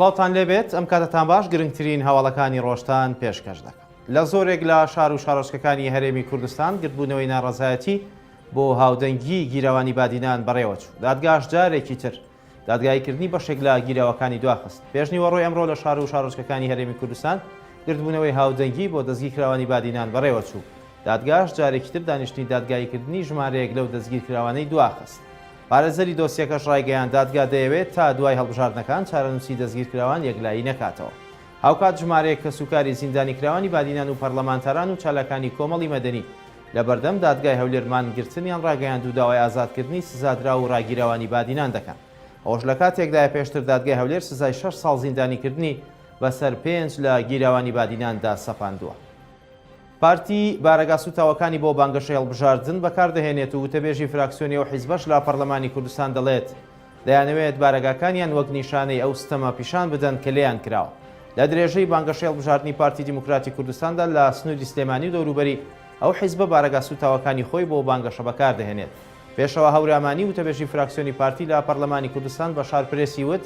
سڵاوتان لێبێت ئەم کاتەتان باش گرنگترین هەواڵەکانی ڕۆژتان پێشکەش دەکەم لە زۆرێک لە شار و شارۆچکەکانی هەرێمی کوردستان گردبوونەوەی ناڕزایەتی بۆ هاودەنگی گیرەوانی بادینان بەڕێوەچوو دادگاش جارێکی تر دادگاییکردنی بەشێک لە گیراوەکانی دواخست. پێشنیوەڕۆی ئەمڕۆ لە شار و شارۆچکەکانی هەرێمی کوردستان گردبوونەوەی هاودەنگی بۆ دەستگیرکراوانی بادینان بەڕێوەچوو. دادگاش جارێکی تر دانیشتنی دادگاییکردنی ژمارەیەک لەو دەستگیرکراوانەی دواخست. پارێزەری دۆسیەکەش ڕایگەیاند، دادگا دەیەوێت تا دوای هەڵبژاردنەکان چارەنووسی دەستگیرکراوان یەکلایی نەکاتەوە. هاوکات ژمارەیەک کەسوکاری زیندانیکراوانی بادینان و پەرلەمانتاران و چالاکانی کۆمەڵی مەدەنی لە بەردەم دادگای هەولێر مانگرتنیان ڕاگەیاند و داوای ئازادکردنی سزادراو و ڕاگیراوانی بادینان دەکەن. ئەوەش لە کاتێکدایە پێشتر دادگای هەولێر سزای شەش ساڵ زیندانیکردنی بەسەر پێنج لە گیراوانی بادیناندا سەپاندووە. پارتی بارەگا سووتاوەکانی بۆ بانگەشەی هەڵبژاردن بەکاردەهێنێت و وتەبێژی فراکسیۆنی ئەو حیزبەش لە پەرلەمانی کوردستان دەڵێت، دەیانەوێت بارەگاکانیان وەک نیشانەی ئەو ستەمە پیشان بدەن کە لێیان کراوە. لە درێژەی بانگەشەی هەڵبژاردنی پارتی دیموکراتی کوردستاندا لە سنووری سلێمانی و دەوروبەری، ئەو حیزبە بارەگا سووتاوەکانی خۆی بۆ بانگەشە بەکار دەهێنێت. پێشەوا هەورامانی، وتەبێژی فراکسیۆنی پارتی لە پەرلەمانی کوردستان بە شار پرێسی وت،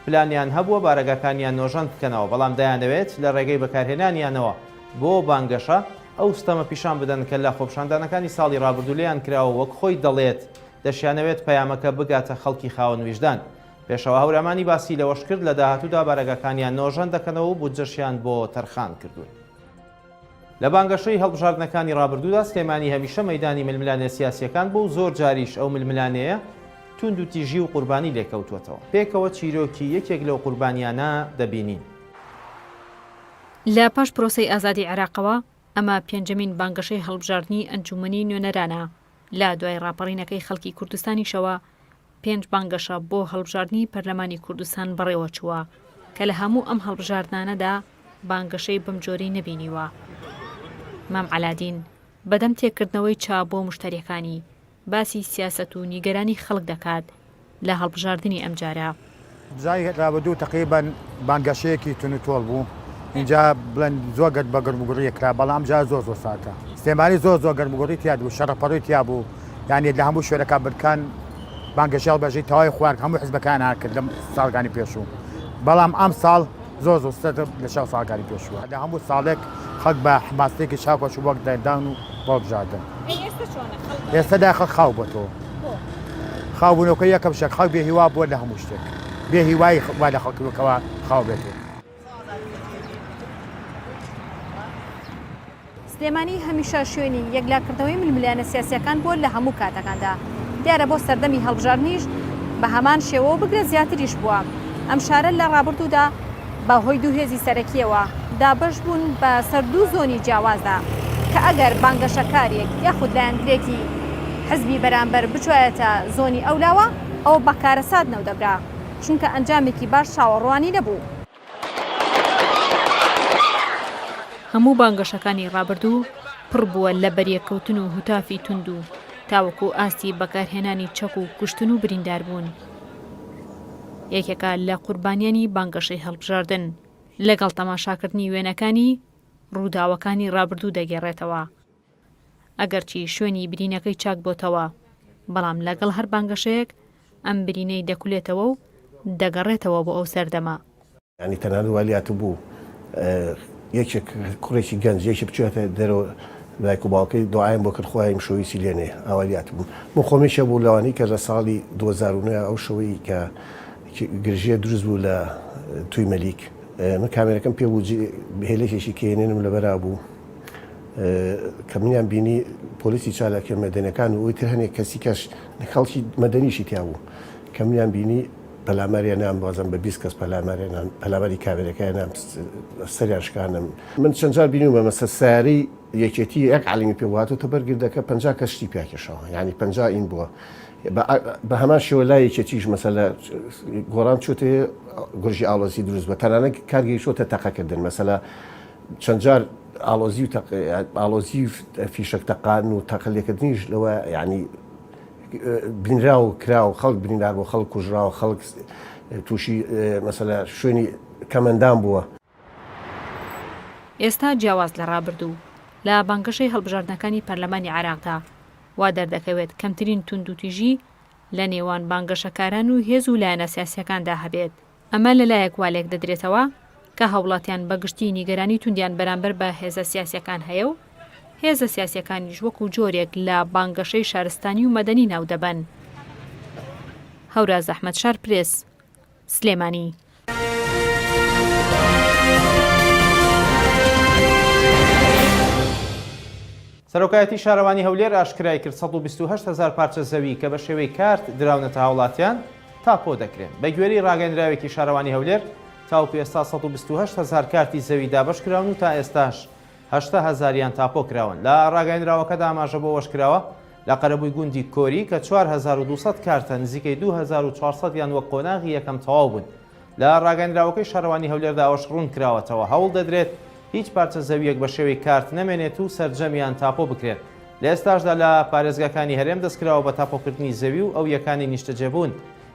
پلانیان هەبووە بارەگاکانیان نۆژەن بکەنەوە، بەڵام دەیانەوێت لە رێگەی بەکارهێنانیانەوە بۆ بانگەشە، ئەو ستەمە پیشان بدەن کە لە خۆپیشاندانەکانی ساڵی رابردوو لێیان کراوە و وەک خۆی دەڵێت، دەشیانەوێت پەیامەکە بگاتە خەڵکی خاوەن ویژدان. پێشەوا هەورامانی باسی لەوەشکرد، لە داهاتوودا بارەگاکانیان نۆژەن دەکەنەوە و بودجەشیان بۆ تەرخان کردوون. لە بانگەشەی هەڵبژاردنەکانی رابردوودا سلێمانی هەمیشە مەیدانی ململانێ سیاسییەکان بوو و زۆر جاریش ئەو ململانێیە تووندوتیژی و قوربانی لێکەوتووەتەوە. پێکەوە چیرۆکی یەکێک لەو قوربانییانە دەبینین. لە پاش پرۆسەی ئازادی عێراقەوە، ئەمە پێنجەمین بانگەشەی هەڵبژاردنی ئەنجوومەنی نوێنەرانە لە دوای ڕاپەڕینەکەی خەڵکی کوردستانیشەوە پێنج بانگەشە بۆ هەڵبژاردنی پەرلەمانی کوردستان بەڕێوەچووە کە لە هەموو ئەم هەڵبژاردنانەدا بانگەشەی بەم جۆرەی نەبینیوە. مام عەلادین بەدەم تێکردنەوەی چا بۆ مشتەریەکانی، باسی سیاسەت و نیگەرانی خەڵک دەکات لە هەڵبژاردنی ئەمجارە. بزای رابە دوو تەقەی بەن بانگەشەیەکی تون و تۆڵ بوو ئینجا بڵێن زۆر گەرد بە گەرم و گوڕیە کرا بەڵام ئەمجارە زۆر زۆر ساردە سلێمانی زۆر زۆر گەرم و گوڕی تیاد بوو شەڕە پەڕۆی تیا بوو یانێت لە هەموو شوێنەکان برکان بانگەشە هەڵبژی تەواوی خوارد هەموو حزبەکان هەر کرد لەم ساڵگانی پێشوو بەڵام ئەم ساڵ زۆر زۆر ستەم لە چاو ساکاری پێشووە لە هەموو ساڵێک خەک بە حماسێکی چاوپەش و وەک دەردان و بەڵبژاردن ئێستا داخە خاو بە تۆ خاوبوونەوەکە یەکەم شەک خەک بێ هیوا بووە لە هەموو شتێک بێ هیوای وا لە خەڵکەوە خاو بێتێت سلێمانی هەمیشە شوێنی یەکلاکردنەوەی ململانێ سیاسییەکان بووە لە هەموو کاتەکاندا، دیارە بۆ سەردەمی هەڵبژاردنیش بە هەمان شێوە و بگرە زیاتریش بووە. ئەم شارە لە ڕابردوودا بە هۆی دوو هێزی سەرەکییەوە دابەش بوون بە سەر دوو زۆنی جیاوازدا کە ئەگەر بانگەشەکارێک یاخود لایەنگرێکی حزبی بەرامبەر بچوایەتە زۆنی ئەولاوە ئەوە بە کارەسات ناودەبرا چونکە ئەنجامێکی باش چاوەڕوانی نەبوو. هەموو بانگەشەکانی ڕابردوو پڕ بووە لە بەریەککەوتن و هوتافی توند و تاوەکو ئاستی بەکارهێنانی چەک و کوشتن و برینداربوون یەکێکە لە قوربانیانی بانگەشەی هەڵبژاردن لەگەڵ تەماشاکردنی وێنەکانی ڕووداوەکانی ڕابردوو دەگێڕێتەوە. ئەگەرچی شوێنی برینەکەی چاک بۆتەوە، بەڵام لەگەڵ هەر بانگەشەیەک ئەم برینەی دەکولێتەوە و دەگەڕێتەوە بۆ ئەو سەردەمە. یانی تەنانەت وای لاتبوو یەکێک کوڕێکی گەنج یەکی بچوویاتە دەرەوە دایک و باوکەی دوعایان بۆ کرد خوایە ئیمشەو هیچی لێ نەیە ئاوای لاتبوو. من خۆم یەکێک بووم لەوانەی کە لە ساڵی دوو هەزار و نۆ ئەو شەوەی کە گرژییە دروست بوو لە توی مەلیک من کامێرەکەم پێ بوو جێ هێلکێکی کێنێنم لەبەرا بوو، کە منیان بینی پۆلیسی چالاکیە مەدەنەکان و ئەوتر هەنێک کەسی کەش خەڵکی مەدەنیشی تیا بوو کە منیان بینی پەلاماریان نام بازم بە بیست کەس پەلاماریان پەلاماری کابێرەکەیان نام سەریان شکانم من چەند جار بینی بە مەسە ساری یەکێتی یەک علیمی پێ واتۆ تە بەرگردەکە پ کەشتی پیاکێشەوە ینی پ ئین بووە بە هەمان شێوە لا یەکێتیش مەسەلە گۆران چۆتێ گرژی ئاڵۆزی دروست بە تەنانە کارگەی شۆتە تەقەکردن مەسەلا چەند جار ئاڵۆزی و تەق ئاڵۆزی و فیشەک تەقان و تەقە لێکردنیش لەوە یعنی بینرا و کرا و خەڵک بریندار بۆ خەڵک کوژرا و خەڵک تووشی مەسەلە شوێنی کەمەندان بووە. ئێستا جیاواز لە ڕابردوو، لە بانگەشەی هەڵبژاردنەکانی پەرلەمانی عێراقدا وا دەردەکەوێت کەمترین توندوتیژی لە نێوان بانگەشەکاران و هێز و لایەنە سیاسییەکاندا هەبێت، ئەمە لە لایەک وا لێکدەدرێتەوە کە هاوڵاتیان بە گشتی نیگەرانی توندیان بەرامبەر بە هێزە سیاسییەکان هەیە و هێزە سیاسییەکانیش وەکو جۆرێک لە بانگەشەی شارستانی و مەدەنی ناو دەبەن. هەوراز ئەحمەد شارپرێس، سلێمانی. سەرۆکایەتی شارەوانی هەولێر ئاشکرایکرد، سەد و بیست و هەشت هەزار پارچە زەوی کە بە شێوەی کارت دراونەتە هاوڵاتیان، تاپۆ دەکرێن. بە گوێرەی راگەێنراوێکی شارەوانی هەولێر، تاوەکو ئێستا سەد و بیست و هەشت هەزار کارتی زەوی دابەشکراون و تا ئێستاش هەشتا هەزاریان تاپۆ کراون. لە راگەێنراوەکەدا ئاماژە بەوەشکراوە، لە قەرەبووی گوندی کۆری کە چوار هەزار و دوو سەد کارتە، نزیکەی دوو هەزار و چوار سەدیان وەک قۆناغی یەکەم تەواو بوون. لە ڕاگەندراوەکەی شارەوانی هەولێردا ئەوەش ڕوون کراوەتەوە، هەوڵ دەدرێت هیچ پارچە زەوییەک بە شێوەی کارت نەمێنێت و سەرجەمیان تاپۆ بکرێن، لە ئێستاشدا لە پارێزگاکانی هەرێم دەستکراوە بە تاپۆکردنی زەوی و ئەویەکانی نیشتەجێبوون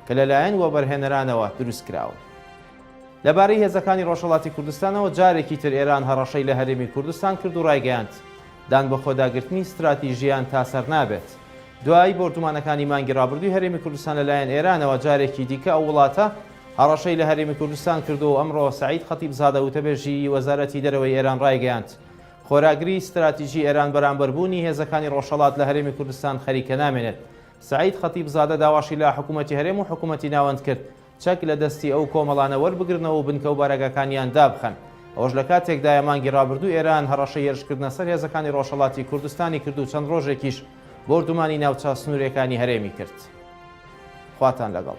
کە لەلایەن وەبەرهێنەرانەوە دروستکراون. لەبارەی هێزەکانی ڕۆژهەڵاتی کوردستانەوە جارێکی تر ئێران هەڕەشەی لە هەرێمی کوردستان کرد و ڕایگەیاند، دانبەخۆداگرتنی ستراتیژییان تا سەر نابێت. دوای بۆردومانەکانی مانگی ڕابردووی هەرێمی کوردستان لەلایەن ئێرانەوە، جارێکی دیکە ئەو وڵاتە هەڕەشەی لە هەرێمی کوردستان کردووە و ئەمڕۆ سەعید خەتیبزادە وتەبێژی وەزارەتی دەرەوەی ئێران ڕایگەیاند، خۆراگری ستراتیژی ئێران بەرامبەر بوونی هێزەکانی ڕۆژهەڵات لە هەرێمی کوردستان خەریکە نامێنێت. سەعید خەتیبزادە داواشی لە حکوومەتی هەرێم و حکوومەتی ناوەند کرد، چەک لە دەستی ئەو کۆمەڵانە وەربگرنەوە و بنکە و بارەگاکانیان دابخەن. ئەوەش لە کاتێکدایە مانگی رابردوو ئێران هەڕەشەی هێرشکردنە سەر هێزەکانی رۆژهەڵاتی کوردستانی کرد و چەند رۆژێکیش بۆردومانی ناوچە سنوورێکانی هەرێمی کرد. خواتان لەگەڵ.